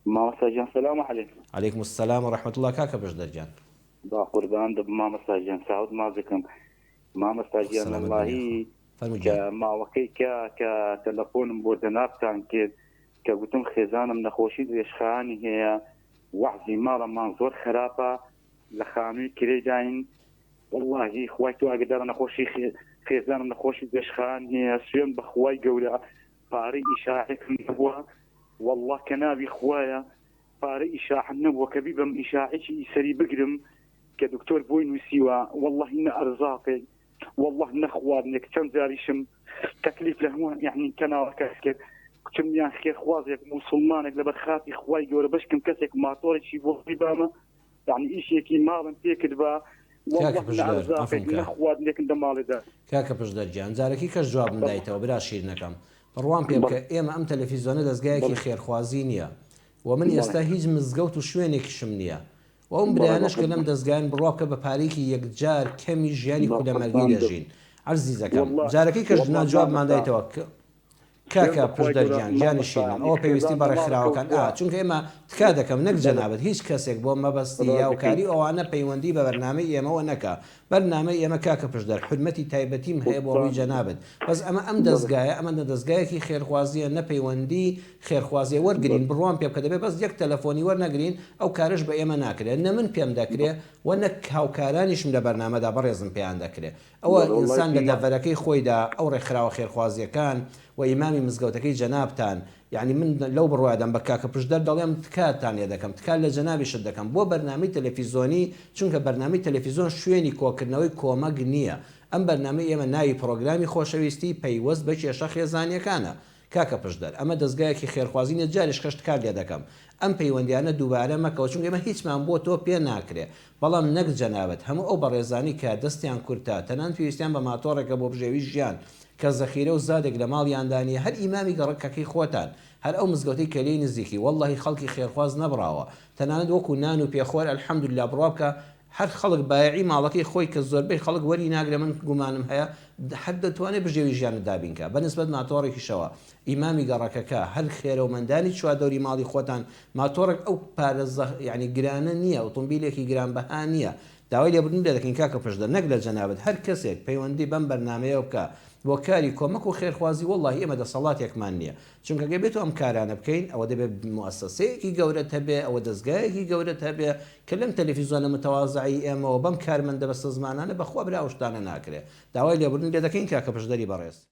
مامۆستا گیان سلام علیکم. علیکم السلام و رحمت اللە کاکە بەژدەر گیان. با قوربانت بم مامۆستا گیان چاوت ماچ دەکەم مامۆستا گیان سەلامەت بن وەڵاهی یاخوا فەرموو کە گیان ماوەکەی کە کە تەلەفۆنم بۆ جەنابتان کرد کە گوتم خێزانم نەخۆشی درێژخایەنی هەیە وەعزی ماڵەمان زۆر خەراپە لە خانووی کرێداین وەڵاهی خوای تۆ ئاگدارە نەخۆشی خێ خێزانم نەخۆشی درێژخایەن هەیە سوێن بە خوای گەورە پارەی ئیشاعەکم نەبوە واللە کە ناوی خوایە پارەی ئیشاعەم نەبوە کە بیبەم ئیشاعەکی ئی سەری بگرم کە دکتۆر بۆی نوسیوە واللەهی نە ئەرزاقێک واللە نە خواردنێک چەند جاریشم تەکلیف لە هەموو یەعنی کەناڵەکەت کرد کچم یان خێرخوازێک موسوڵمانێک لەبەر خاتری خوای گەورە بەشکم کەسێک ماتۆڕێکی بۆ بیبامە یانی ئیشێکی ماڵم پێ کردبا کاکە پشدەر عەفوم کە نەخوارد لێکن دە ماڵێدا. کاکە پشدەر گیان جارەکی کەش جوابم دایتەوە برا شیرنەکەم بڕوام پێ بکە ئێمە ئەم تەلەفیزۆنە دەزگایەکی خێرخوازی نیە و من ئێستا هیچ مزگەوت و شوێنێکیشم نیە و ئەوم برایانەش کە لەم دەزگایەن بڕوا بکە بە پارەیەکی یەکجار کەمی ژیانی کولەمەرگی دەژین عەزیزەکەم جارەکی کەش نا جوابمان دایتەوە کاکە پشدەر گیان گیانی شیرنم ئەوە پێویستی بە ڕێکخراوەکان ئا چونکە ئێمە تکا دەکەم نەک جەنابت هیچ کەسێک بۆ مەبەستی یاوکاری ئەوانە پەیوەندی بە بەرنامەی ئێمەوە نەکا بەرنامەی ئێمە کاکە پشدەر حورمەتی تایبەتیم هەیە بۆ ڕووی جەنابت بەس ئەمە ئەم دەزگایە ئەمە نە دەزگایەکی خێرخوازیە نە پەیوەندی خێرخوازیە وەرگرین بڕوام پێ بکە دەبێ بەس یەک تەلەفۆنی وەرنەگرین ئەو کارەش بە ئێمە ناکرێ نە من پێم دەکرێ وە نەک هاوکارانیشم لە بەرنامەدا بەڕێزم پێیان دەکرێ ئەوە ئینسان لە دەڤەرەکەی خۆیدا ئەو ڕێکخراوە خێرخوازیەکان و ئیمامی مزگەوتەکەی جەنابتان یانی من لەو بڕوادام بە کاکە پشدەر دەڵێم تکاتان لێ دەکەم تکا لە جەنابیشت دەکەم بۆ بەرنامەی تەلەفیزۆنی چونکە بەرنامەی تەلەفیزۆن شوێنی کۆکردنەوەی کۆمەک نیە ئەم بەرنامەی ئێمە ناوی پڕۆگرامی خۆشەویستی پەیوەست بە کێشە خێزانیەکانە کاکە پشدەر ئەمە دەزگایەکی خێرخوازی نیە جاریش خشت کار لێ دەکەم ئەم پەیوەندیانە دووبارە مەکەوە چونکە ئێمە هیچمان بۆ تۆ پێ ناکرێ بەڵام نەک جەنابت هەموو ئەو بەڕێزانەی کە دەستیان کورتە تەنانەت پێویستیان بە ماتۆڕێکە بۆ بژێوی ژیان کە زەخیرە و زادێک لە ماڵیاندا نیە هەر ئیمامی گەڕەکەکەی خۆتان هەر ئەو مزگەوتەی کە لێی نزیکی وەڵڵەهی خەڵکی خێرخواز نەبڕاوە تەنانەت وەکو نان و پێخۆر الحمدللە بڕوا بکە هەر خەڵک بایەعی ماڵەکەی خۆی کە زۆربەی خەڵک وەری ناگرێ من گومانم هەیە هەر دەتوانێ بژێوی ژیانت دابین کا بە نسبەت ماتۆڕێکیشەوە ئیمامی گەڕەکەکە هەر خێرەومەندانی چواردەوری ماڵی خۆتان ماتۆڕێک ئەو پارە زە یانی گرانە نیە ئۆتۆمبیلێکی گران بەها نیە داوای لێبوردن لێ دەکەین کاکە پشدەر نەک لە جەنابت هەر کەسێک پەیوەندی بەم بەرنامەیەوە بکا بۆ کاری کۆمەک و خێرخوازی وەڵاهی ئێمە دەسەڵاتێکمان نیە چونکە گەر بێتو ئەم کارانە بکەین ئەوە دەبێت موئەسەسەیەکی گەورەت هەبێ، ئەوە دەزگایەکی گەورەت هەبێ کە لەم تەلەفیزۆنە متەوازەی ئێمەوە بەم کارمەندە بەسەزمانانە بەخوا برا ئەو شتانە ناکرێ. داوای لێبوردن لێدەکەین کاکە پشدەری بەڕێز.